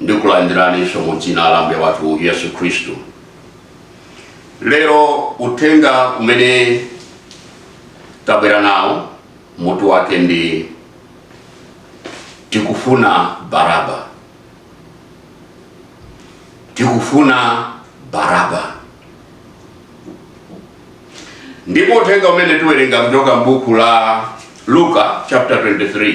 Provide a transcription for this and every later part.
ndikulandiraninso mu dzina la ambuye wathu yesu khristu lero uthenga umene tabwera nawo mutu wake ndi tikufuna baraba tikufuna baraba ndipo uthenga umene tiwerenga kuchoka m'buku la luka chapter 23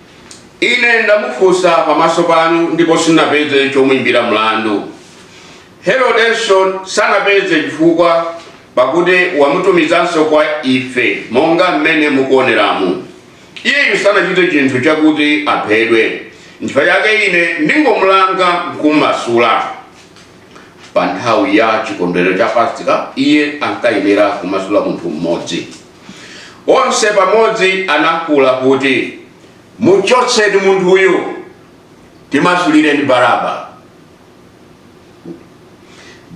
Ine ndamufunsa pamaso panu ndipo sinapeze chomuimbira mlandu. Herodenso sanapeze chifukwa, pakuti wamutumizanso kwa ife monga mmene mukuoneramu. Iyeyu sanachite chinthu chakuti aphedwe. N'chifukwa chake ine ndingomulanga n'kumumasula. Pa nthawi ya chikondwerero cha Pasika, iye ankayenera kumasula munthu mmodzi. Onse pamodzi anafuula kuti, Muchotseni munthuyu! Timasulireni Baraba!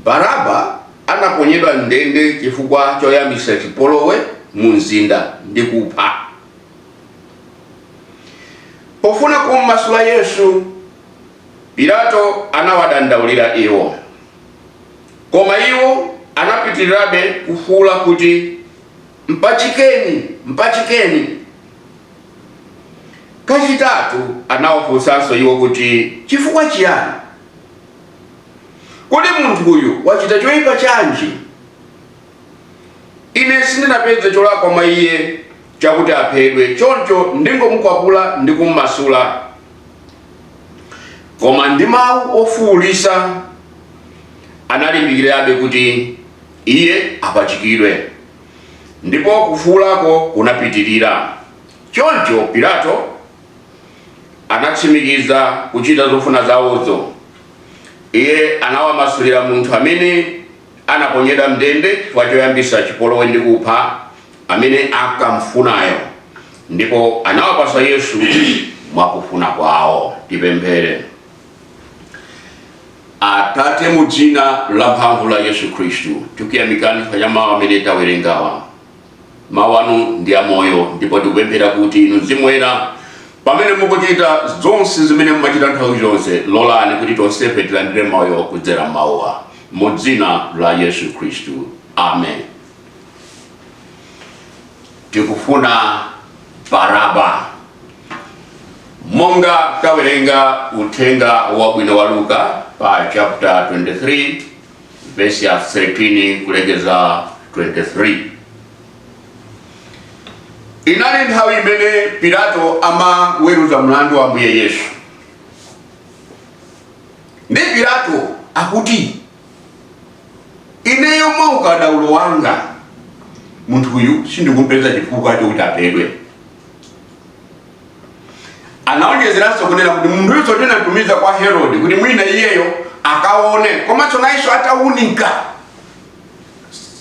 Baraba anaponyedwa m'ndende chifukwa choyambitsa chipolowe mumzinda ndi kupha. Pofuna kum'masula Yesu, Pilato anawadandaulira iwo. Koma iwo anapitirirabe kufuula kuti, Mpachikeni! Mpachikeni! Kachitatu anawafunsanso iwo kuti, Chifukwa chiyani? Kodi munthu uyu wachita choyipa chanji? Ine sindinapeze cholakwa mwa iye chakuti aphedwe, choncho ndingomukwapula ndi kummasula. Koma ndi mawu ofuulitsa analimbikirabe kuti iye apachikidwe, ndipo kufuulako kunapitirira. Choncho Pilato anatsimikiza kuchita zofuna zawozo. Iye anawamasulira munthu amene. anaponyedwa m'ndende chifukwa choyambitsa chipolowe ndi kupha amene ankam'funayo, ndipo anawapatsa Yesu mwa kufuna kwawo. Tipemphere. Atate, mu dzina lamphamvu la Yesu Kristu, tikuyamikani chifukwa cha mawu amene tawerengawa. Mawu anu ndi amoyo, ndipo tikupemphera kuti inu Mzimu Woyera, pamene mukuchita zonse zimene mumachita nthawi zonse, lolani kuti tonsefe tilandire moyo kudzera m'mawuwa, mu dzina la Yesu Khristu, amen. Tikufuna Baraba. Monga tawerenga uthenga wabwino wa Luka pa chapter 23 vesi ya 13 kulekeza 23 inali nthawi imene pilato amaweruza mlandu wa ambuye yesu ndi pilato akuti ineyo mwa ukadaulo wanga munthuyu sindikumpeza chifukwa chokuti aphedwe anawonjezeranso kunena kuti munthuyu tinatumiza kwa herode kuti mwina iyeyo akaone komanso nayenso ataunika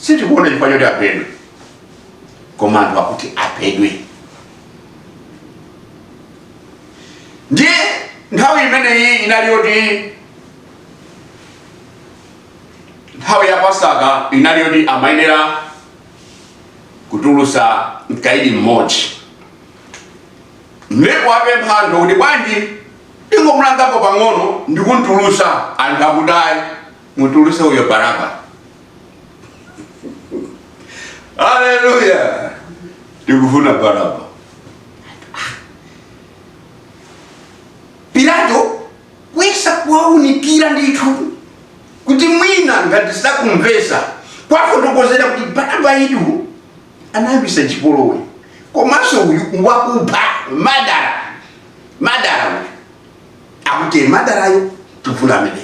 sitikuona chifukwa choti aphedwe koma anthu akuti aphedwe ndiye nthawi imeneyi inali yoti nthawi ya pasaka inali yoti amayenera kutulusa mkaidi mmodzi ndipo apempha anthu kuti bwanji ndingomulangako pang'ono ndi kumtulusa anthu akuti ayi mutuluse uyo baraba haleluya tikufuna baraba pilato kuyesa kuwaunikira ndithu kuti mwina ngati sakumvesa kuwafotokozera kuti baraba uyu anayambisa chipolowe komanso uyu wakupha madara madara uyu akuti madarayo tikufuna ameneyo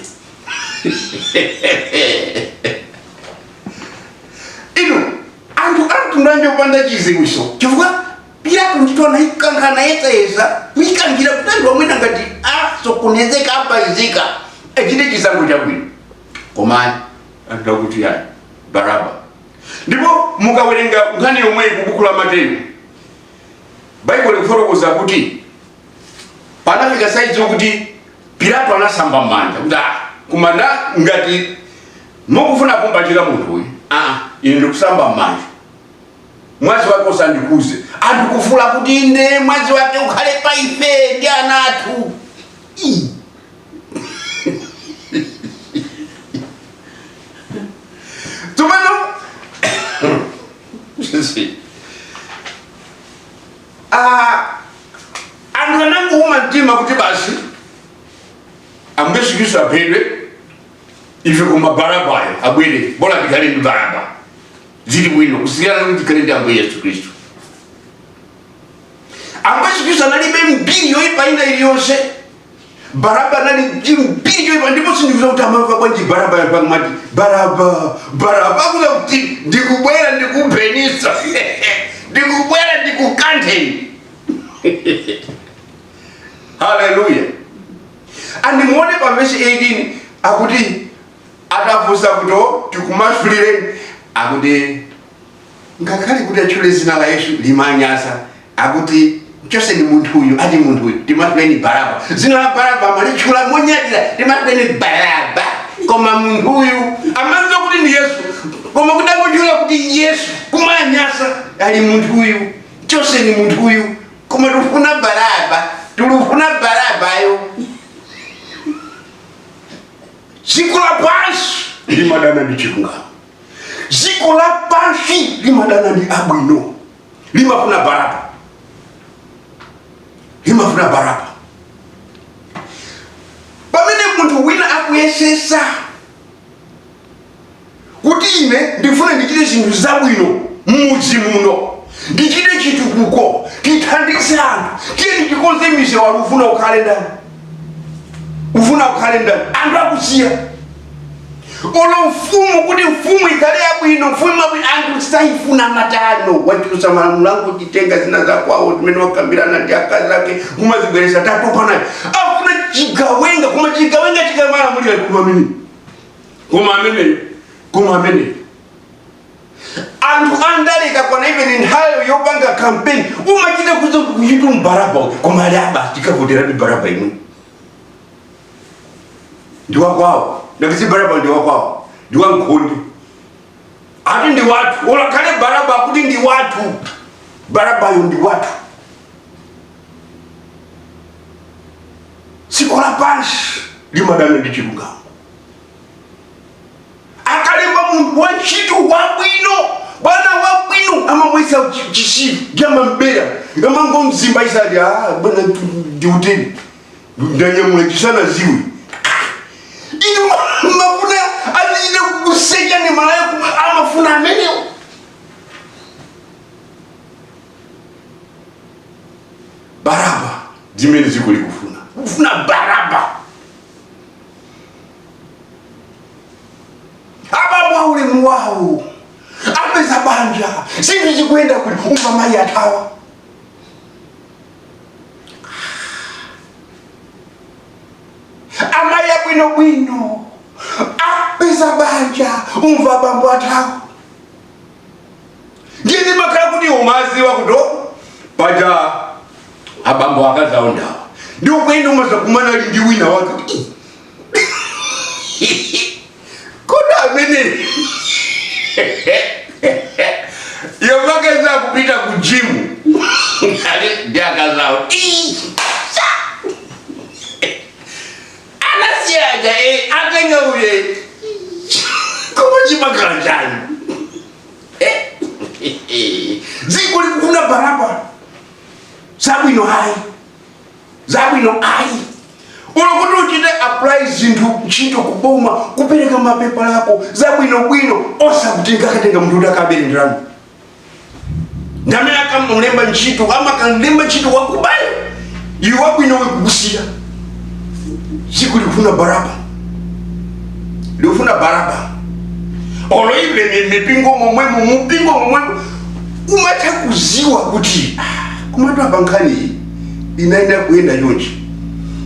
inu anthu amtundu anje kupanda chiziwiso chifukwa pilato ndithu anaikankha anayesayesa kuikankhira kuti anthu mwina ngati asokonezeka apaizika achite chisankho chabwino koma anthu akuti ayi baraba ndipo mukawerenga nkhani yomweyi ku buku la mateyu baibulo likufotokoza kuti panafika saizi yokuti pilato anasamba m'manja kuti ah kumanda ngati mukufuna kumpachika munthu uyu ah ine ndikusamba m'manja mwazi wake usandikhudze anthu kufuula kuti inde mwazi wake ukhale pa ife ndi ana athu Ii. tsopano anthu anangouma mtima kuti basi ambuye yesu khristu aphedwe ife koma barabayo abwere bola tikhale ndi baraba zili bwino kusiyana kuti tikhale ndi ambuye yesu khristu ambuye yesu khristu analibe mbiri yoipa ina iliyonse baraba anali ndi mbiri yoipa ndipo sindikudziwa kuti amamva bwanji baraba yampang'mati baraba baraba akudziwa kuti ndikubwera ndikuphenitsa ndikubwera ndikukantheni haleluya andimuone pa vesi 18 akuti atafunsa kuti tikumasulireni akuti Ngakhale kuti atchule zina la Yesu limanyasa akuti chotseni munthu uyu ati munthu uyu timasuleni Baraba zina la Baraba amalitchula monyadira timasuleni Baraba koma munthu uyu amadziwa kuti ndi Yesu koma kuti angotchula kuti Yesu kumanyasa ali munthu uyu chotseni munthu uyu koma tikufuna Baraba tikufuna Barabayo dziko lapansi limadana ndi chilungamo dziko lapansi limadana ndi abwino limafuna baraba limafuna baraba pamene munthu wina akuyesetsa kuti ine ndifuna ndichite zinthu zabwino m'mudzi muno ndichite chitukuko tithandize anthu tiyeni tikonze misewu ufuna ukhale ndani ufuna ukhale ndani anthu akusiya olo mfumu kuti mfumu ikhale yabwino mfumu yabwino anthu sayifuna matano wachulutsa malamulo akutitenga zina zakwawo zimene wakambirana ndi akazi ake kumazibweretsa tatopa nayo afuna chigawenga koma chigawenga chikamalamulira koma amene koma amene koma amene anthu andaleka kwana even nthawi yopanga campaign umachita kudziwa kuti ndi baraba uyu koma ali a basi tikavotera ndi baraba imwe ndi wakwawo ngati si baraba ndi wakwawo ndi wankhonde ati ndi wathu olo akhale baraba kuti ndi wathu barabayo ndi wathu dziko lapansi limadana ndi chilungamo akalemba munthu wantchito wabwino bwana wabwino amamuyesa chitsiru cha amamubera amangomzimba isati "Ah, bwana ndiuteni ndanyamula chisanadziwe inu mufuna azichita kukusecha ni malaiko amafuna amenewo baraba zimene ziko likufuna kufuna baraba abambo aulemu wawo apeza banja zinthu zikuyenda koma umva mayi athawa amayi abwinobwino apeza banja umva bambo athawa ndiye ndimakhala kuti umaziwa kuti paja abambo akazawonda ndi uko umazakumana ali ndi wina wake kuti kodi aja anayamba kupita ku jimu ndi akazawo anasiyaja eh, atenga uye koma chimakhala chani dziko eh, likufuna baraba zabwino ayi zabwino ayi olo kuti uchite apply zinthu ntchito kuboma kupereka mapepala ako zabwinobwino koma akatenga munthu kuti akabere ndalama ndamene akamlemba ntchito amakalemba ntchito wakubayo iwe wabwino nkukusiya dziko likufuna baraba likufuna baraba olo ive mi- mipingo momwemo mupingo momwemo umatha kuziwa kuti ah, kumatu apa nkhani iyi inayenera kuyenda chonchi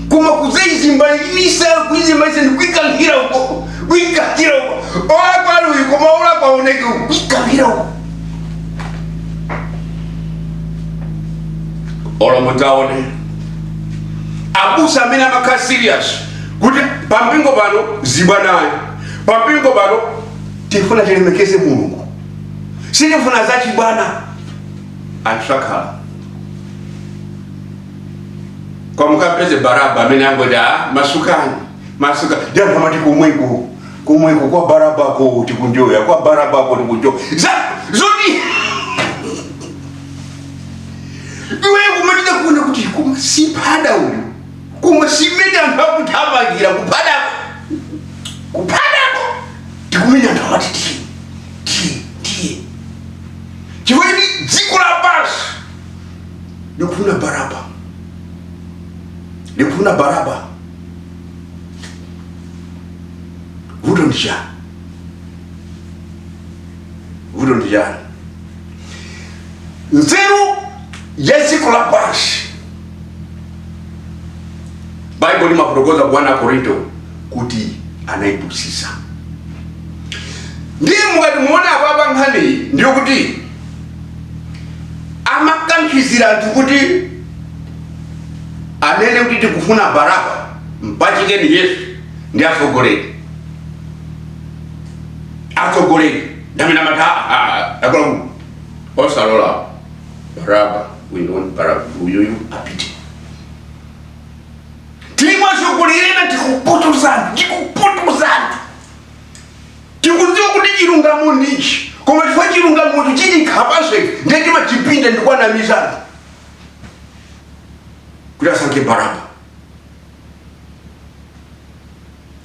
koma kudzaizimbaitsa kuizimbaitsa ndikuikankhira uko kuikankhira uko olakwa ndi uyu koma olakwaoneke uko kuikankhira uko olo mudzaone abusa amene amakhala serious kuti pampingo pano zibwana ayi pampingo pano tifuna tilemekeze mulungu sitifuna zachibwana anthu sakhalako mukapeze baraba amene angoti a masukani masukani anthu amati kumweko kumweko kwa barabako tikunjoya kwa barabako tikunjoya za zoti iwe kumatha kuona kuti koma si baraba uyu koma mmene anthu akuthamangira kupadako kupadako tikumenya anthu amati tiye tiye tiye chifukwa dziko lapansi likufuna baraba likufuna baraba vuto ndi chani vuto ndi chani nzeru ya dziko lapansi baibulo limafotokoza ku 1 akorinto kuti anaipusisa ndiye mukati muone apapa nkhaniyi ndiyo kuti amakankhizira anthu kuti anene kuti tikufuna baraba mpachikeni yesu ndi atsogoleri atsogoleri ndamene amati akulakwa osalola baraba we want baraba uyuyu apite timatsogolera tikupotoza anthu tikupotoza anthu tikudziwa kuti chilungamo ndichi koma chifukwa chilungamocho chitikhapanso ife ndiye timachipinda ndikunamizana kuti asankhe baraba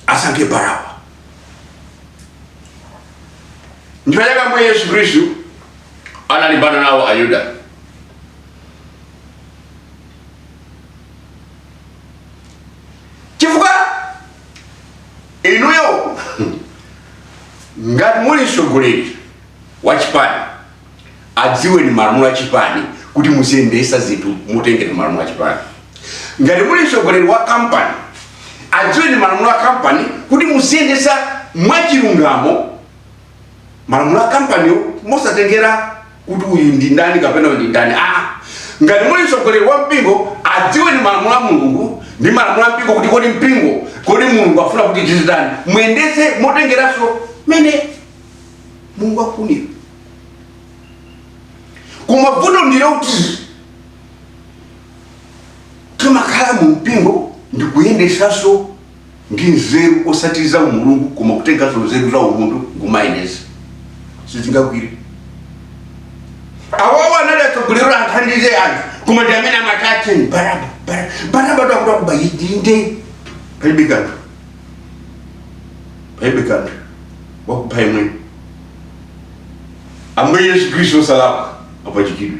asankhe baraba ndipo chake ambuye yesu khristu analimbana nawo ayuda chifukwa inuyo ngati muli mtsogoleri wa chipani adziweni malamulo a chipani kuti muziyendesa zinthu motengera malamulo a chipani ngati muli mtsogoleri wa kampani adziweni malamulo a kampani kuti muziyendesa mwachilungamo malamulo a kampaniyo mosatengera kuti uyu ndi ndani kapena uyu ndi ndani aa ngati muli mtsogoleri wa mpingo adziweni malamulo a mulungu ndi malamulo a mpingo kuti kodi mpingo kodi mulungu afuna kuti tizichitani muyendetse motengeranso mmene mulungu akufunira koma vuto ndilo kuti timakhala mu mpingo ndikuyendetsanso ndi nzeru osati za umulungu koma kutenganso nzeru za umunthu n'kumayendetsa sizingagwire awawo anali atsogoleri athandize anthu koma ndi amene amatache baraba Bara- baraba takuta kuba yidinde palibe kanthu palibe kanthu wakupha yemwe ambuye yesu khristu osalakwa apachikidwe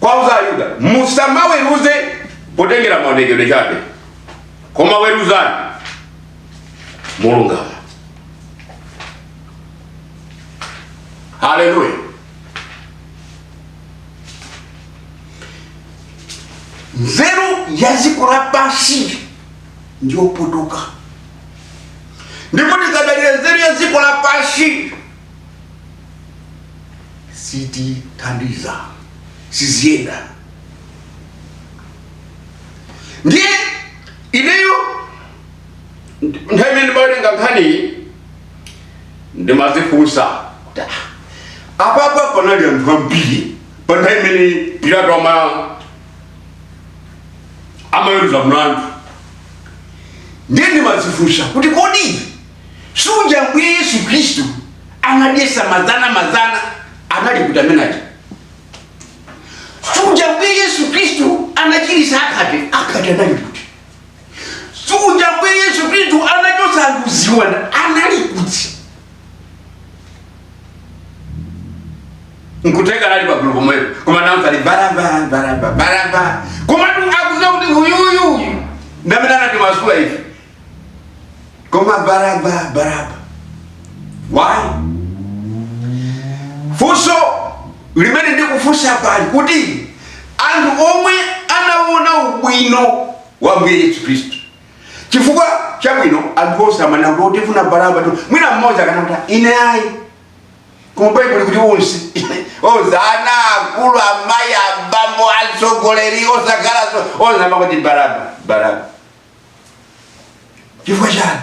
kwa Ayuda, Musamaweruze potengera maonekedwe chabe, koma weruzani molungama. Haleluya! Nzeru ya dziko lapansi ndiyopotoka, ndipo tisadalire nzeru ya dziko lapansi sitithandiza siziyenda ndiye ineyo nthawi imene ndimawerenga nkhaniyi ndimazifunsa kuti, "Ah, apapa panali anthu ambiri pa nthawi imene pilato ama- amaweruza mlandu ndiye ndimazifunsa kuti kodi suja Ambuye Yesu Khristu anadyesa mazana mazana anali kuti amene aja suja Ambuye Yesu Khristu anachirisa akhate akhate anali kuti suja Ambuye Yesu Khristu anachosa anthu ziwanda anali kuti nkutheka anali pagulu pomwepo koma namva ali baraba baraba baraba komatu akuziwa kuti uyuyuyu ndamene anatimasula ife koma baraba baraba why funso limene ndikufunsa pali kuti anthu omwe anaona ubwino wa ambuye yesu khristu chifukwa chabwino anthu onse amanena kuti tifuna barabatu mwina mmodzi akanati ine ayi koma baibulo kuti onse onse ana akulu amayi abambo atsogoleri osakalaso onse amakuti baraba baraba chifukwa chani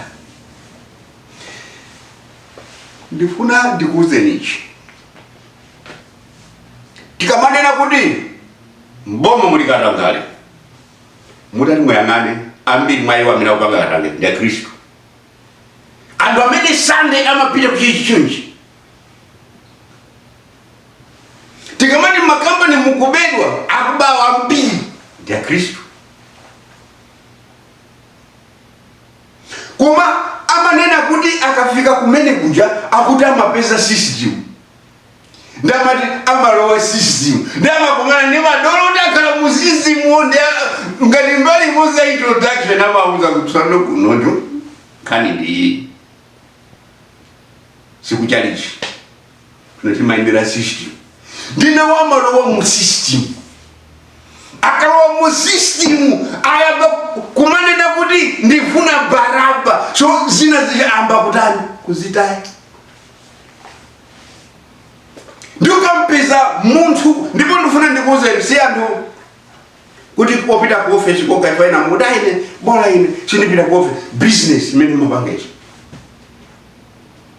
ndifuna ndikuwuzeni ichi tikamanena kuti mboma muli katangale mutati muyang'ane ambiri mwa iwo amene akupanga katangale ndi akhristu anthu amene sande amapita kuchalichi tikamati makampani mukubedwa akubawa ambiri ndi akhristu koma amanena kuti akafika kumene kuja akuti amapeza system ndamati amalowa system ndamakumana ndi madolo oti akhala mu system wo ndi ngati mbali imodzi ya introduction amauza kuti tsono kunoko nkhani ndiyi sikuchalichi timayendera system nde nawo amalowa mu system akalowa mu system ayamba kumanena kuti ndifuna baraba so zinazi ayamba kutani kuzitaya ndikampeza munthu ndipo ndifuna ndikuuzeni si anthu kuti popita ku office kokha ayi ena mukuti a ine bola ine sindipita ku office business imene mapanga ichi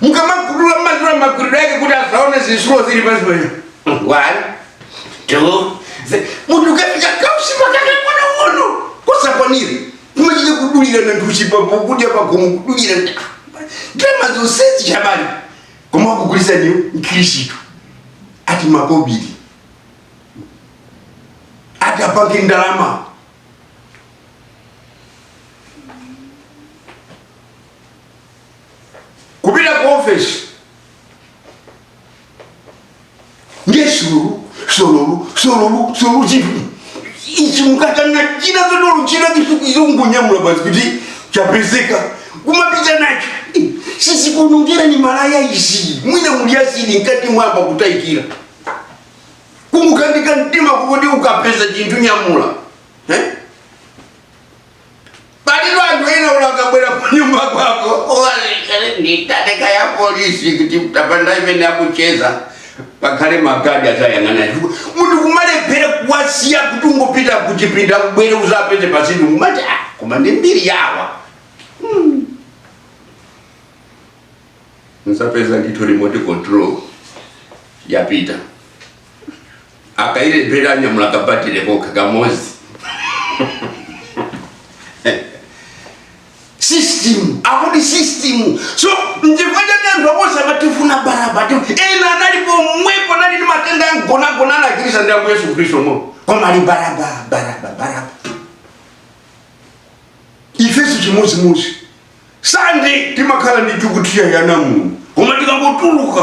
mukamakudula mmadula maduliro ake kuti asaone zitsulo zili pansi pano one two three. munthu ukafika kautsi pakamwa pang'ono kasakwanire kumachita kudulira na utuchi pakudya pagomo kudulira ndalama zonsezi chabali koma akugulisa ndiyo mkhristu ati makobidi ati apange ndalama kupita ku ofesi ndiye sululu sululu sululu sululu chinthu ichi mukatenga china zodolo china chisukuizo kungonyamula basi kuti chapezeka kumapita nacho sizikuonongerani malaya izi mwina muli acid nkati mwamba kutayikira kungokanika mtima kokuti ukapeza chinthu nyamula eh? Palitu anthu ena olo akabwera kunyumba kwako uwalekere ndiye atatenga ya polisi kuti utapanda mmene akucheza pakhale magadi azayang'ana chifukwa munthu kumalephera kuwasiya kuti ungopita kuchipinda ubwere uzapeze pasitu kumati ah, koma ndi mbiri yawa hmm. mzapeza ndithu remote control yapita akailephera anyamula kabatire kokha kamozi system akuti system so nchifukwa chake anthu onse amati tifuna baraba ena anali pomwepo anali ndi matenda ang'onoang'ono anachirisidwa ndi ambuye yesu khristu mo koma ali baraba baraba baraba ifeso chimodzimodzi sande timakhala mu tchalitchi yanamu koma tikangotuluka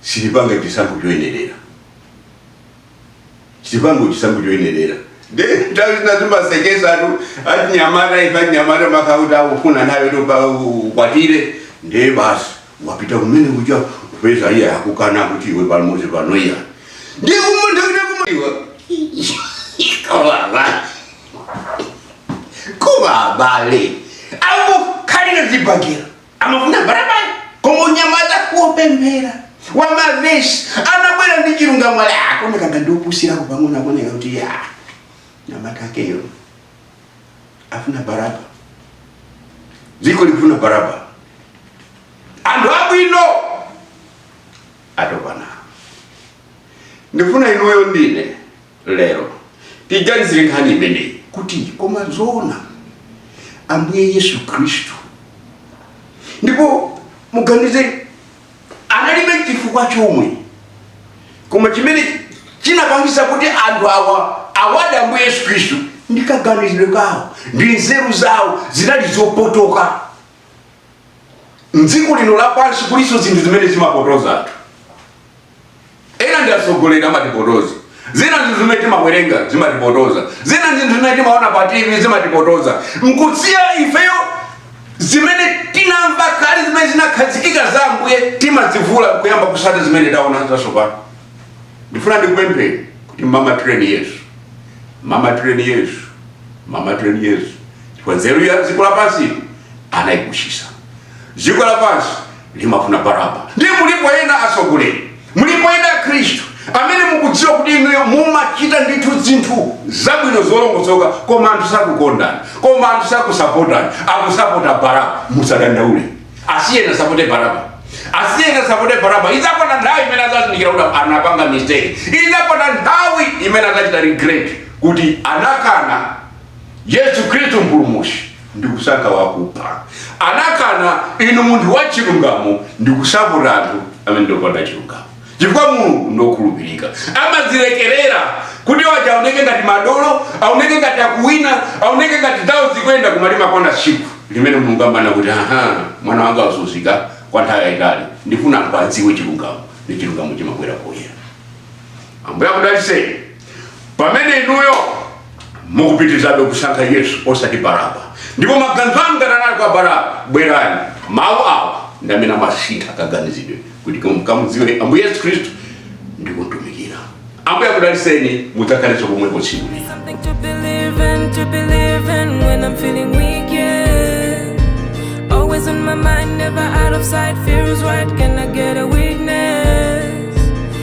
sitipanga chisankho choyenerera sitipanga chisankho choyenerera nde nthawi zina zimasekesatu ati anyamata ife anyamata amakhala oti akufuna nawe kuti ukwatire nde basi wapita kumene kuja kupeza iye akukana kuti iwe pamodzi pano iya ndi kumunthakitakumaiwa kuba abale awo kalina zipangira Amafuna baraba koma mnyamata wopemphera wa mavesi anabwera ndi chilungamo ali akuoneka ngati opusirako pang'ono akuoneka kuti iya mnyamata wakeyo afuna baraba dziko likufuna baraba anthu abwino atopa ndi ndifuna inuyo ndine lero. Tiganizire nkhani imeneyi kuti koma zoona Ambuye Yesu Khristu ndipo muganize analibe chifukwa chomwe koma chimene chinapangitsa kuti anthu awa awade Ambuye Yesu Khristu ndi kaganizidwe kawo ndi nzeru zawo zinali zopotoka mdziko lino lapansi kulinso zinthu zimene zimapotoza anthu ena ndi atsogoleri amatipotoza zina zinthu zimene timawerenga zimatipotoza zina zinthu zimene timaona pa tv zimatipotoza nkusiya ifeyo zimene tinamva kale zimene zinakhazikika za ambuye timazivula kuyamba kutsata zimene taona zatsopano ndifuna ndikupempheni kuti mamatireni yesu mamatireni yesu mamatireni yesu chifukwa nzeru ya dziko lapansi anayikutsitsa dziko lapansi limafuna baraba ndiye mulipo ena atsogoleri mulipo ena akhristu amene mukudziwa kuti inuyo mumachita ndithu zinthu zabwino zolongosoka koma anthu sakukondani koma anthu sakusapotani akusapota baraba musadandaule asiyeni asapote baraba asiyeni asapote baraba idzakwana nthawi imene adzazindikira kuti anapanga mistake idzakwana nthawi imene adzachita regret kuti anakana yesu khristu mpulumutsi ndikusankha wakupha. Anakana inu munthu wa chilungamo ndikusapota anthu amene ndopanda chilungamo. Chifukwa Mulungu ndokhulupirika, amazilekerera kuti waja aoneke ngati madolo, aoneke ngati akuwina, aoneke ngati zawo zikuyenda, koma limakwana tsiku limene Mulungu amanena kuti aha, mwana wanga wazunzika kwa nthawi yayitali, ndifuna anthu adziwe chilungamo, ndiye chilungamo chimabwera poyera. Ambuye akudalitseni. pamene inuyo mukupitirizabe kusankha yesu osati baraba ndipo maganizo anu ngati anali kwa baraba bwerani mawu awa ndi amene amasintha kaganizidwe kuti mukamudziwe ambuye yesu khristu ndi kumtumikira ambuye akudalitseni mudzakhalenso komweko tsiku lina Something to believe in, to believe in when I'm feeling weak, yeah. Always on my mind, never out of sight. Fear is right, can I get a witness?